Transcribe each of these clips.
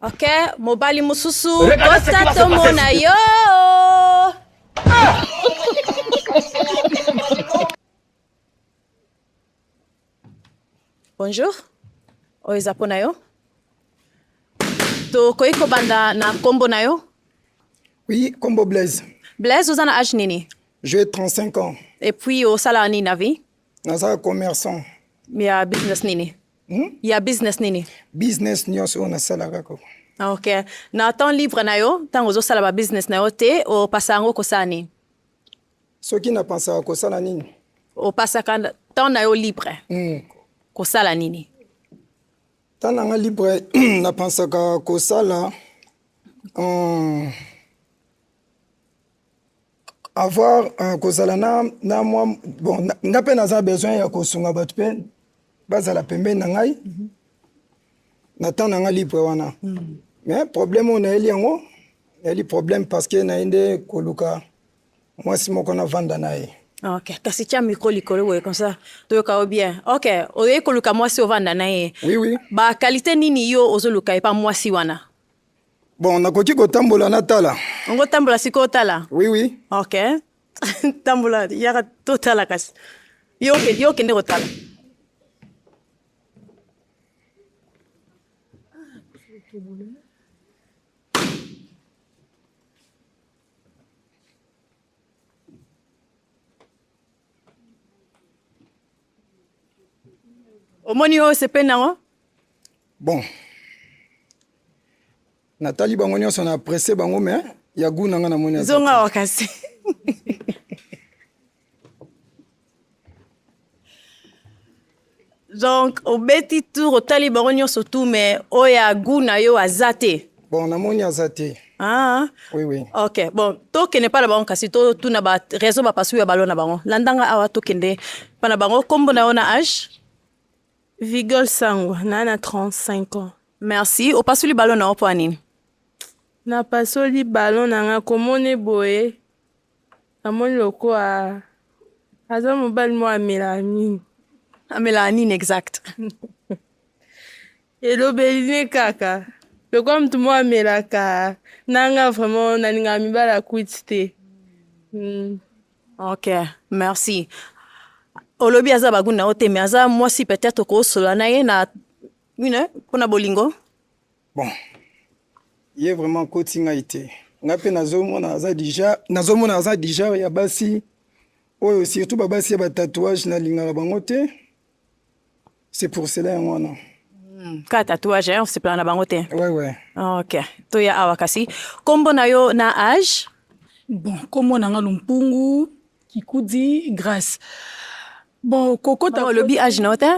Ok, mobali mususu, kosa tomona yo. Bonjour, oyo eza mpo na yo. Tokoki kobanda na nkombo na yo? Oui, nkombo Blaise. Blaise, oza na age nini? J'ai 35 ans. Et puis osalaka nini na vie? Naza commerçant. Ya business nini? Hmm? Ya business nini? Business nyonso oyo nasalaka koko. Ah, ok. Na temps libre na yo, ntango ozosala ba business na yo te, opasa yango kosala nini? Soki napasaka kosala nini? Opasaka temps na yo libre. Mm. Kosala nini? Temps na nga libre napasaka kosala um, avoir uh, kozala na, na mwa bon nga mpe naza besoin ya kosunga bato mpe bazala pembeni na ngai mm -hmm. na temps na ngai libre wana mm -hmm. mais problème oyo nayeli yango nayeli problème parce que naye nde koluka mwasi moko navanda na ye ok kasi tya micro likolo boye comme ça toyoka yo bien ok oyei koluka mwasi ovanda na ye oui, oui. bakalite nini yo ozoluka epa mwasi wana Bon, nakoki kotambola natala. Ngo tambola sikoyo tala. Oui, oui. Ok. tambola yaka totala kasi. Yo yo kende kotala. omoni oyo osepeli nango bon natali bango nyonso na apresse bango me ya gu na nga namoni zonga awa kasi donc obeti tour otali bango nyonso tu me oyo ya gu na yo aza te Bon, namoni aza te. Ah. Oui, oui. Ok, bon, tokende epai na bango kasi totuna ba raison bapasui ya balo na bango. Landanga awa tokende epai na bango. Kombo na yo na age? Vigol Sango, na na 35 ans. Merci. Opasuli balo na yo mpo ya nini? Napasoli balo na nga komone boye namoni lokola aza mobali moko amelaka nini. Amelaka nini exact? elobeli ne kaka lokola motu moko amelaka nanga vraiment nalingaka mibala kwiti te mm. ok merci olobi aza baguni na yo te mais aza mwasi peut-être okoosola na ye na une mpo na bolingo bon ye vraiment koti ngai te ngai mpe nazomona aza deja nazomona aza deja ya basi oyo surtout babasi ya batatouage nalingaka bango te C'est pour cela yango wana. Hmm, ka tatouage hein, osepela na bango te. Ouais ouais. OK. Toya awa kasi kombo na yo na âge? Bon, kombo na nga Lumpungu Kikudi Grace. Bon, kokota oh, lobi âge na yo te?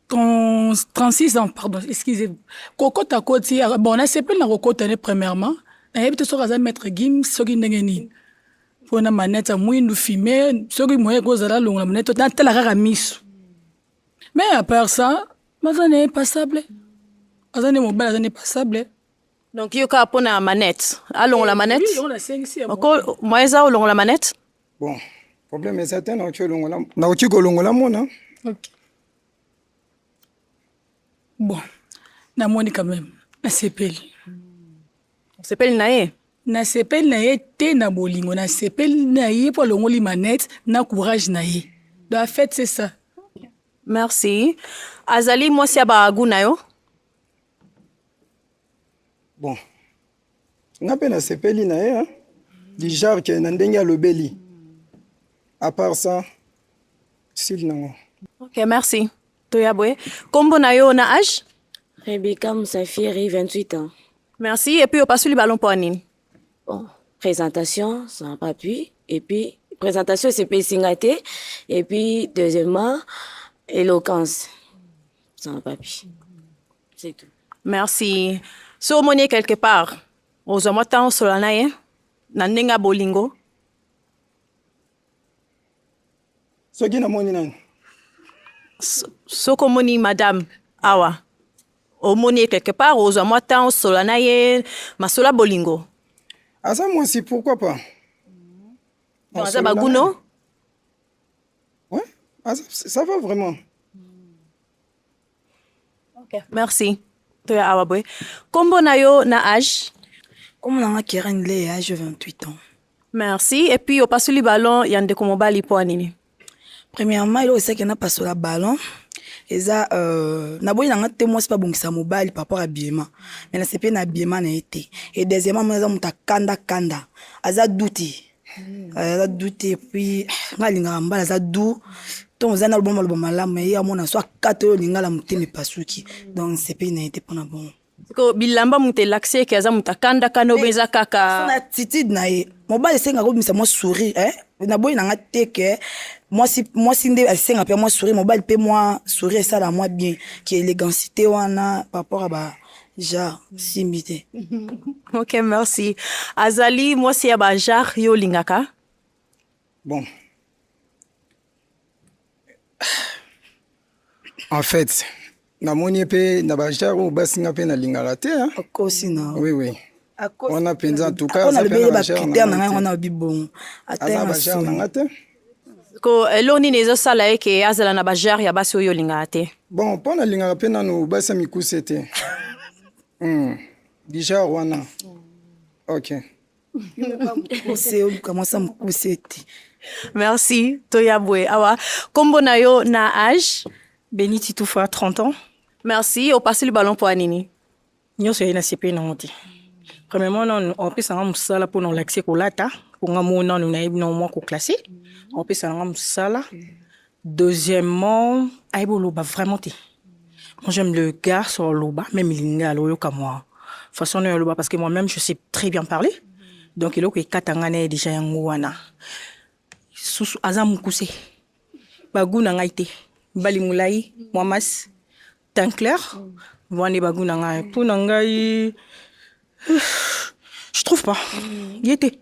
36 ans, pardon, excusez-moi. Kokota koti, bon, nasepeli na kokota ne premièrement. nayebi te soki aza maître gim soki ndenge nini mpo na maneti ya mwindu fime soki moye ekozala longola maneti natala kaka miso me apart ça baza na ye passable aza nde mobali aza nde passable donc yo kaka mpo na manete alongola manete moyen eza olongola manete bon problème eza te nakoki olongola nakoki kolongola mona bon namoni quand même nasepeli Osepeli na ye? Nasepeli na ye te na bolingo, nasepeli na ye mpo alongoli manette na courage na ye. Donc en fait c'est ça. Merci. Azali mwasi ya ba goût na yo? Bon. Nga mpe nasepeli na ye hein. Du genre que na ndenge alobeli. À part ça, style nango. Ok, merci. Toya boye. Kombo na yo na âge? Rebecca Musafiri, 28 ans. Merci. Et puis opasuli ballon mpo nini? Bon, présentation, ça n'a pas pu. Et puis présentation esepelisi ngai te. Et puis deuxièmement, éloquence, ça n'a pas pu. C'est tout. Merci. So omoni ye quelque part, ozwa mwa ntango osola na ye na ndenge ya bolingo. soki namoni nani soki omoni madame awa omoni ye quelque part ozwa mwa temps osola na ye masola bolingo aza mwasi pourquoi pas donc aza baguno ouais, ça va vraiment Okay, merci. Toya awa boye. Kombo na yo na âge? Kombo na nga Keren Ley, âge 28 ans. Merci. Et puis opasoli ballon ya ndeko mobali po nini? Premièrement, eloko esaki na pasola ballon eza euh, naboyi na nga te mwasi mpe abongisa mobali par rapport abiema mais nasepeli na abiema na ye te e deuxièmement mona aza moto akanda kanda aza duti Euh, aza du te puis nga alingaka mbala aza du ntongo eza na lobama loba malamu ye amona so akata oyo olinga la motema epasuki donc nsepeli na ye te mpo na bongo siko bilamba moto elakisi eke aza moto akandakanda obe eza kaka na attitude na ye mobali esengaka obimisa mwa sourire eh? naboyi na nga te ke mwasi mwasi nde asenga mpe mwa sourire mobali mpe mwa sourire esala mwa bien ki élégancité wana par rapport ya ba Genre, simbi te. ok, merci. Azali mwasi ya ba genre yo olingaka? Bon. En fait, namoni mpe na ba genre oyo basi nga mpe nalingaka te. Okosi na. Oui, oui. Wana mpenza en tout cas aza mpe na ba genre na nga te. Aza ba genre na nga te. ko eloko nini ezosala ye ke azala na bajare ya basi oyo olingaka te bon mpo nalingaka mpe nano basi ya mikuse te mm. bijare wana ok mokuse oluka mwasi ya mokuse te merci toya boye awa nkombo na yo na age beni titufa 30 ans merci opasoli balon mpo ya nini nyonso yei nasepeli nango te premièrement nanu opesa nga mosala mpo na olakise kolata mpo nga moo nanu nayebi nango mwa koklasse opesa nanga mosala deuxièmement ayebi oloba vraiment te moi j'aime le garçon oloba même linga aloyoka mwa façon nayo oloba parce que moi même je sais très bien parler donc eloko ekata ngai na ye deja yango wana susu aza mokuse bagu na ngai te mbali molai mwa masi Tinclair, wana ba goût na ngai. Mpo na ngai je trouve pas. Ye te.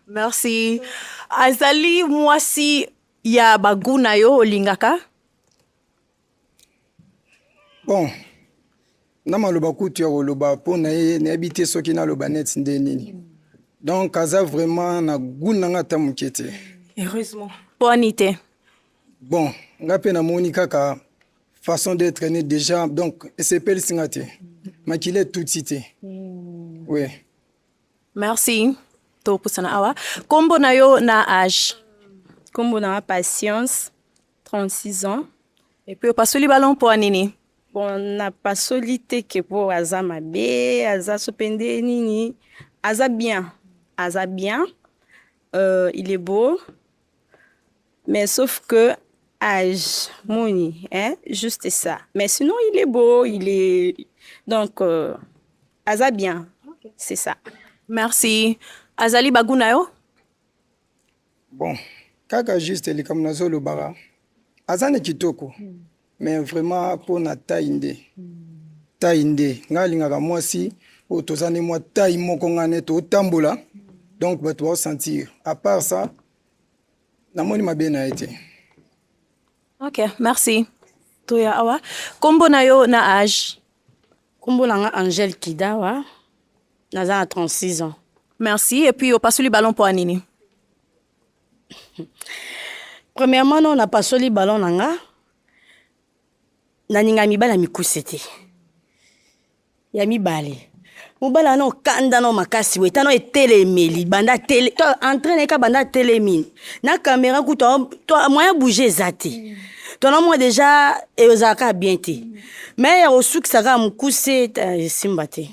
Merci. Azali mwasi ya ba goût na yo olingaka? Bon, na maloba kutu ya koloba mpo na ye nayebi te soki naloba neti nde nini. Donc aza vraiment na goût na ngai ata moke te. Heureusement. Mpo ani te. Bon, ngai mpe namoni kaka façon d'être né déjà donc esepelisi nga te makila etuti te hmm. oui merci topusana awa nkombo na yo na age nkombo na patience 36 ans epuis opasoli balon mpo ya nini bon napasoli te ke mpo aza mabe aza so mpe nde nini aza bien aza bien euh, il est beau Mais sauf que âge, Mouni, hein, juste ça. Mais sinon, il est beau, il est. Donc, euh, Aza bien. Okay. C'est ça. Merci. Azali Bagunayo Bon, kaka juste likambo nazolobaka aza na kitoko mm. mais vraiment mpo na tai nde mm. tai nde ngai alingaka mwasi oyo toza nde mwa tai moko ngai ne totambola mm. donc bato baosentir à part ça namoni mabe na ye te ok merci toya awa nkombo na yo na age nkombo na nga angele kidawa naza na 36 ans merci et puis opasoli ballon mpo ya nini premièrement no napasoli ballon na nga naninga mibali ya mikuse te ya mibale mobali wana okanda na makasi boye tana etelemeli banda tele to entraine eka banda atelemi na kamera kutu to moyen bouge eza te mm. to na mwa deja ezalaka kaka bien te mm. mai ya kosukisa kaka mokuse esimba te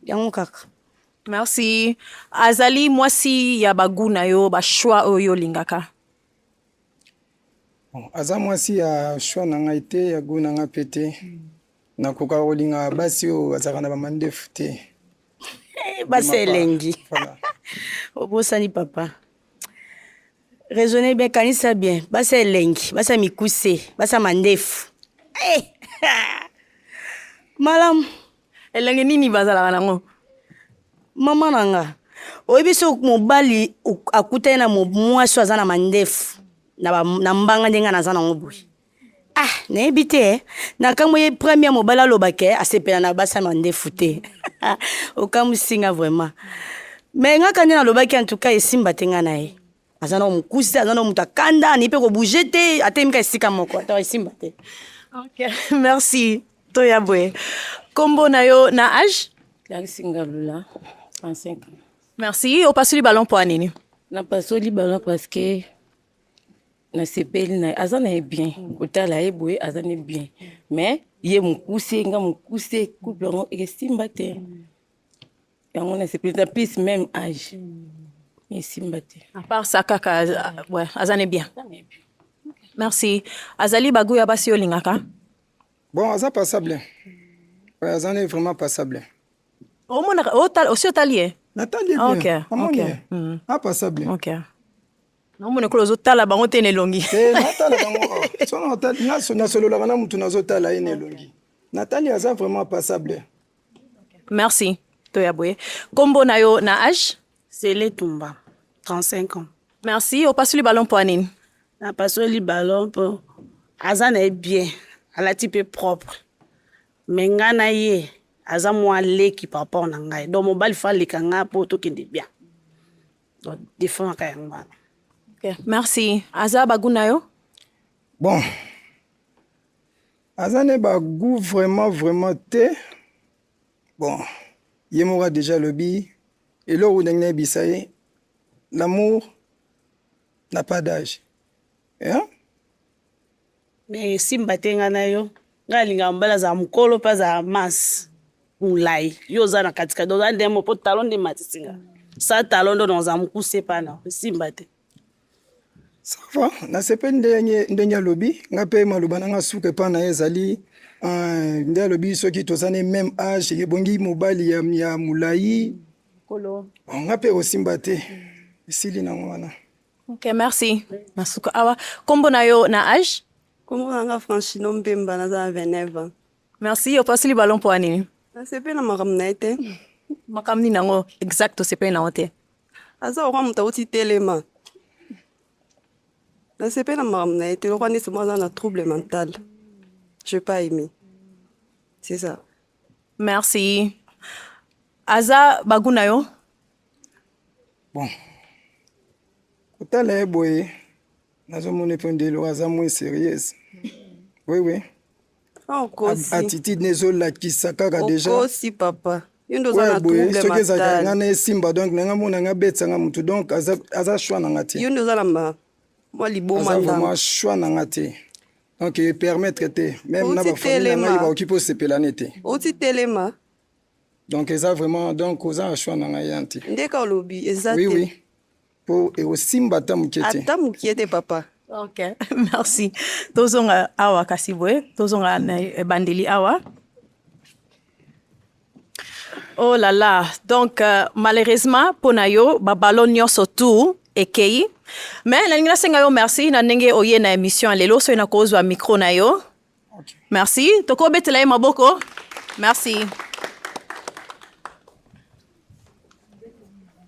yango kaka merci azali mwasi ya bagu na yo bachoix oyo olingaka aza mwasi ya choix na ngai te ya gu na ngai mpe te mm. nakokaka kolinga basi oyo bazalaka na bamandefu te eh, basi elengi obosani papa raisonne bien kanisa bien basi elengi basi ya mikuse basi ya mandefu hey! Eh! malamu elengi nini bazalaka nango mama na nga oyebi so mobali akutani na mwasi oyo aza na mandefu na mbanga ndenge naza nango boye Ah, nayebi te eh. nakamwe ye premier mobali aloba ke asepela na basi ya mandefu te okamwisi nga vraiment me ngaka nde nalobaki antuka esimba te nga na ye aza na mokuse aza na moto akanda ani mpe kobouge te atemika esika moko ata esimba te okay. merci toya boye nkombo na yo na age larisingalula 35 merci opasoli balon mpo ya nini napasoli balon parce que nasepeli na aza na ye bien kotala ye boye aza na bien mais ye mokuse nga mokuse couple yango esimba te yango nasepeli na plus même age esimba te à part ça kaka ouais, aza na bien merci azali bagu ya basi olingaka bon aza passable ouais, aza na vraiment passable omonaka osi otali ye natali ye bien okay. amoni okay. ye mm. apasable okay. namona ekolo ozotala bango te na elongi eh, natala bango nasololaka na motu nazotala ye na elongi natali aza vraiment passable merci toya boye nkombo na yo na age sele tumba 35 ans merci opasoli balon mpo ya nini napasoli balon mpo aza na ye bien alati mpe propre me ngai na ye aza mwa leki par rapport na ngai donc mobali fa aleka ngai mpo tokende bien defendaka yango wana okay. merci aza bagu na yo bon aza ne bagu vraiment vraiment te bon ye moko adeja alobi eloko ndenge nayebisa ye l'amour n'a pas d'âge hein? mais esimba te ngai na yo ngai alingaka mobali azala mokolo mpe azala manse molai yo oza na katikati oza nde mo mpo talo nde matisi nga sa talo ndo naoza mokuse pana esimba te sava nasepeli ndenge ndenge alobi nga mpe maloba na nga suka epa na ye ezali euh, nde alobi soki toza ne meme age ebongi mobali ya, ya molai nga mpe osimba te esili nango wana Ok, merci. Nasuka awa. Kombo na yo na age? Kombo na nga Franchino Mbemba, naza na 29 ans. Merci, opasi libalo mpo nini? Nasepeli na makambo na ye te. Makambo nini yango exact osepeli na yango te? Aza lokwa moto auti telema. Nasepeli na makambo na ye te, lokwa neti mwa aza na trouble mental. Je pas aimé. C'est ça. Merci. Aza bagu na yo? bon kotala ye boye nazomona epe ndelo aza mwe serieuse wewe attitude ne ezolakisa kaka deja okosi papa soki ezalaka nga na esimba donc nanga mona nga abetisa nga motu donc aza choix na nga te yo nde oza na mwa liboma aza vraiment choix na nga te donc epermettre te meme na bafamille na ngai bakoki mpo osepela ne te oti telema donc eza vraiment donc oza na choix na ngai ya nte ndeka olobi eza oui, te oui. po ekosimba ata moke te ata moke te papa ok merci tozonga awa kasi boye tozonga na ebandeli awa oh là là donc euh, malheureusement mpo na yo babalo nyonso tout ekei mais nalingi nasenga yo merci na ndenge oye na émission ya lelo soki nakozwa micro na yo Merci. Toko betela ye maboko. Merci.